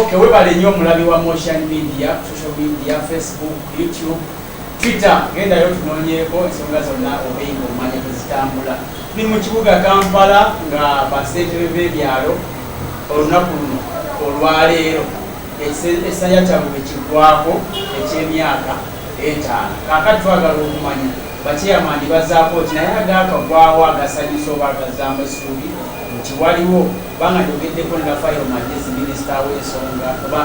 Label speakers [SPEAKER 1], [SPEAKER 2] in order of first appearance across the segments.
[SPEAKER 1] Okay, webale nnyo omulabi wa Motion Media, social media, Facebook, YouTube, Twitter, genda yo tunoonyeeko ensonga zonna obeyinga omanya tezitambula. Ni mu kibuga Kampala nga basentebe b'ebyalo olunaku luno olwaleero ekisanya kyabwe bwekiggwako eky'emyaka etaano. Kaakati twagala okumanya bakyeyamandi bazaako ki naye agaakagwawo agasanyusa oba agazaamu essuubi nti waliwo Kubanga njogeddeko ne Raphael Magyezi minisita w'ensonga oba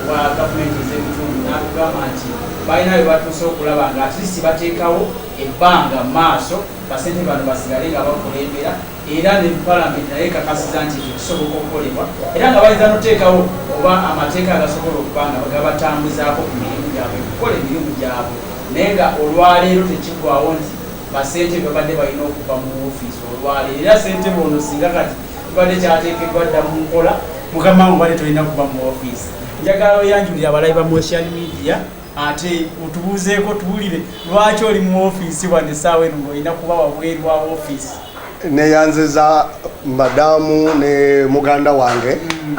[SPEAKER 1] wa gavumenti ez'ebitundu n'atugamba nti balina we batuuse okulaba nga at least bateekawo ebbanga mu maaso basente bano basigale nga bakulembera era ne palamenti naye ekakasiza nti ekyo kisoboka okukolebwa era nga bayinza n'oteekawo oba amateeka agasobola okuba nga gabatambuzaako ku mirimu gyabwe okukola emirimu gyabwe naye nga olwaleero tekiggwawo nti basente babadde balina okuva mu ofiisi olwaleero era sente bono singa kati Kibadde kyateekeddwa dda mu nkola. Mukama obadde tolina kuba mu ofiisi. Njagala oyanjulire abalabi ba Mocean Media ate otubuuzeeko tuwulire lwaki oli mu ofiisi wano essaawa eno ng'olina kuba wabweru wa ofiisi. Neyanziza
[SPEAKER 2] madaamu ne muganda wange. Mm.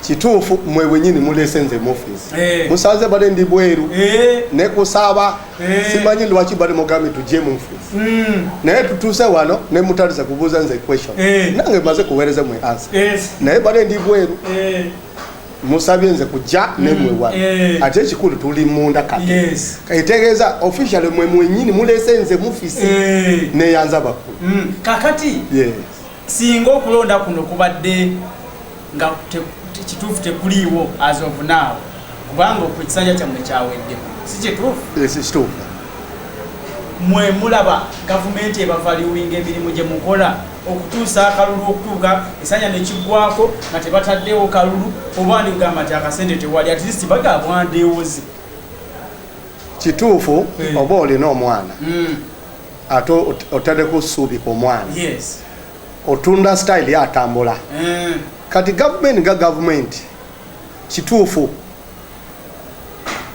[SPEAKER 2] kituufu mwe bwenyini mulese nze mufisi eh. musanze bale ndi bweru eh. nekusaba Eh. simanyi lwaki bali mugambi tujje mu nfuufu hmm. naye tutuuse wano ne mutaliza kubuuza nze question eh. nange maze kuweereza mwe ansa eh. naye bale ndi bweru musabye nze kujja hmm. nemwewa ate ekikulu tuli munda kati etegeeza officially mwe mwenyini mulese nze mufisi neyanza bakulu hmm. kakati
[SPEAKER 1] Singa okulonda kuno kubadde nga kituufu tekuliiwo as of now kubanga okwo ekisanja kyammwe kyawedde si kituufu ekituufu mwe mulaba gavumenti ebavaliwinga emirimu gye mukola okutuusa akalulu okutuuka esanya nekiggwako nga tebataddewo kalulu oba ndi kugamba nti akasente tewali at least bagabwandeewoze
[SPEAKER 2] kituufu eh. oba olina omwana hmm. ate otadeko suubi ku omwana yes. otunda style yatambula mm. kati gavumenti nga gavumenti kituufu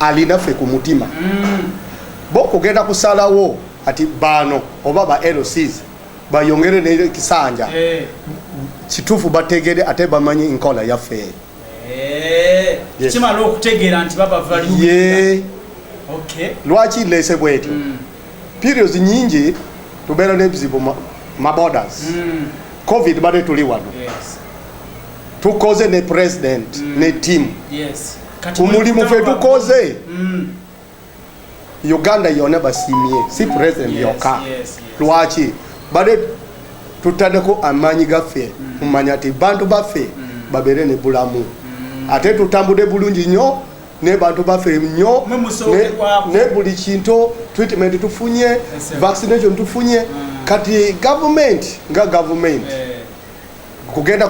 [SPEAKER 2] alinaffe ku mutima mm. bo kugenda kusalawo ati baano oba ba lcs bayongere nekisanja hey. Eh. kituufu bategere ate bamanyi nkola yaffe hey. Eh. yes.
[SPEAKER 1] kimala okutegeera nti babavaliye okay.
[SPEAKER 2] lwaki lese bwetyo mm. periods nyingi tubeera nebizibu ma borders mm. covid bade tuli wano yes. tukoze ne president mm. ne team yes. omulimu fe tukoze mm. uganda yona basimye si mm. president yes, yoka yes, yes. lwaki bade tutandeko amaanyi gaffe mumanya mm. ti bantu baffe mm. babeere ne bulamu mm. ate tutambude bulungi nyo ne bantu baffe nnyo ne buli kintu treatment tufunye vaccination tufunye mm. kati government nga government eh. kugenda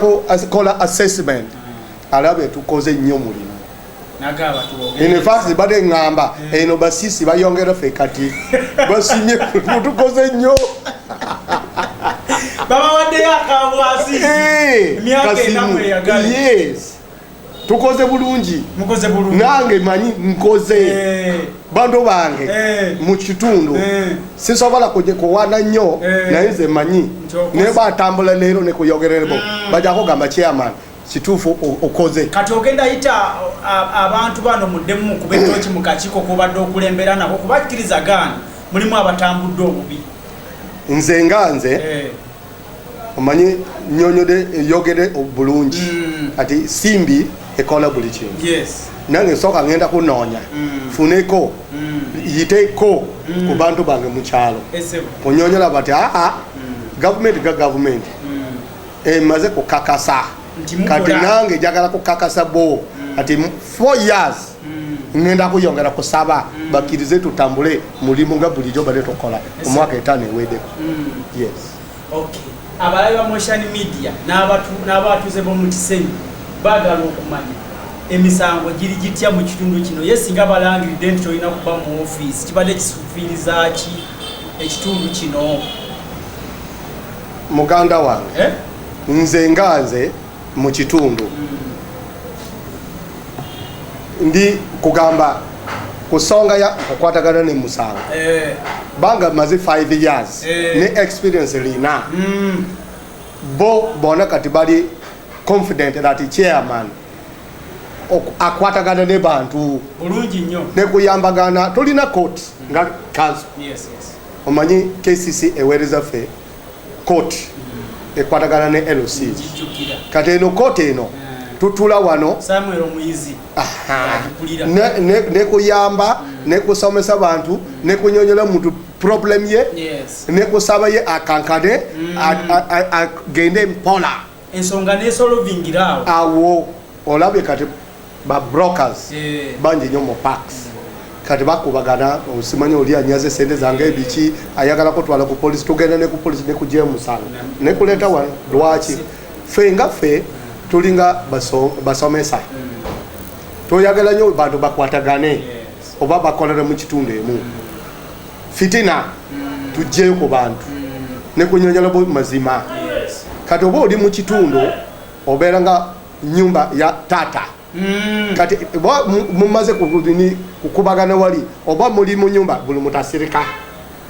[SPEAKER 2] kola assessment mm. alabe tukoze nnyo mulimu infact bade ngamba mm. eno basisi bayongera fe kati basimye tukoze nnyo
[SPEAKER 1] babawaddeyo akabwasi eh, emyaka enamweyagale
[SPEAKER 2] tukoze bulungi nange
[SPEAKER 1] manyi
[SPEAKER 2] nkoze eh. bantu bange eh. mu kitundu eh. sisobola kugikuwana nnyo naye nze manyi naye batambula leero nekuyogererebo mm. bajakugamba chairman kituufu okoze kati ogenda yita
[SPEAKER 1] abantu bano muddemu kuba etoki mu kakiiko kobadde okulembera nabo kubakkiriza gaana mulimu abatambudde obubi nze
[SPEAKER 2] nga nze omanyi nyonyode yogede bulungi mm. ati simbi ekola buli kintu nange nsooka ngenda kunoonya mm. funeko mm. yiteko ku bantu bange mukyalo kunyonyola bati aa gavumenti ga gavumenti emaze kukakasa kati nange jagala kukakasa bo ati four years ngenda kuyongera kusaba mm. bakirize tutambule mulimu nga bulijjo bade tukola omwaka etaano ewedeko mm.
[SPEAKER 1] abalabi ba motion media n'abatuuze b'omu kisenyi baagala okumanya emisango giri gitya mu kitundu kino ye singa balangiridde nti tolina kuba mu ofiisi kibadde kisufiiriza ki ekitundu kino
[SPEAKER 2] muganda wange eh? nze nga nze mu kitundu ndi kugamba ku songa ya okukwatagana ne musango eh. banga maze 5 years eh. ne experience lina mm. bo bona kati bali confident that chairman akwatagana ne bantu bulungi nnyo ne
[SPEAKER 1] kuyambagana
[SPEAKER 2] tulina court nga kanso yes, yes. omanyi kcc eweereza ffe court ekwatagana ne LC kati eno court eno eh. tutula wano Samuel Muyizi nekuyamba nekusomesa bantu nekunyonyola muntu problem ye nekusaba ye akankane mm. agende mpola ensonga
[SPEAKER 1] nesolovingira awo awo
[SPEAKER 2] olabye kati ba brokers eh. bangi nyo mu parks kati bakubagana osimanya oli anyaze sente zange ebiki ayagala kutwala ku polisi tugenda ne ku polisi ne kujemusanga ne kuleta wa lwaki fe nga fe tulinga baso basomesa mm. toyagala nyo bantu bakwatagane oba bakolera mu kitunde mu mm. fitina tujjeyo ku bantu nekunyonyola mazima kati oba oli mu kitundu obeera nga nyumba ya taata mm. kati oba mumaze kukubagana wali oba muli mu nyumba buli mutasirika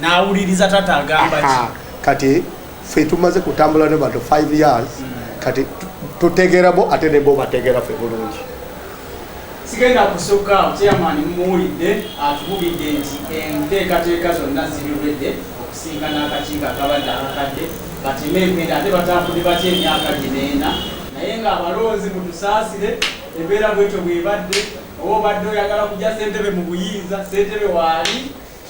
[SPEAKER 2] nawuliriza
[SPEAKER 1] taata agamba kati
[SPEAKER 2] fe tumaze kutambula ne bantu 5 years mm. kati tutegerabo ate nebobategera fe bulungi
[SPEAKER 1] Sigenda kusukka awo, Chairman mumuwulidde atubulidde nti enteekateeka zonna ziri ready okusinkana akakiiko akabadde akakadde bateme empenda ate batambudde batya emyaka gino ena? naye nga abalonzi mutusaasire embeera bwetyo bwebadde oba obadde oyagala kugya ssentebe mu buyinza ssentebe waali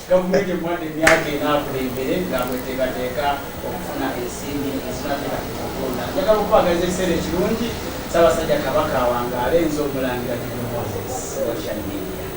[SPEAKER 1] Gavumenti emuwadde emyaka ena akulembere nga bweteekateeka okufuna ensimbi ezinatera ku kulonda. Njagala okubaagaliza ekiseera ekirungi. Ssaabasajja Kabaka awangaale. Nze Omulangira Jjumba Moses, Washington.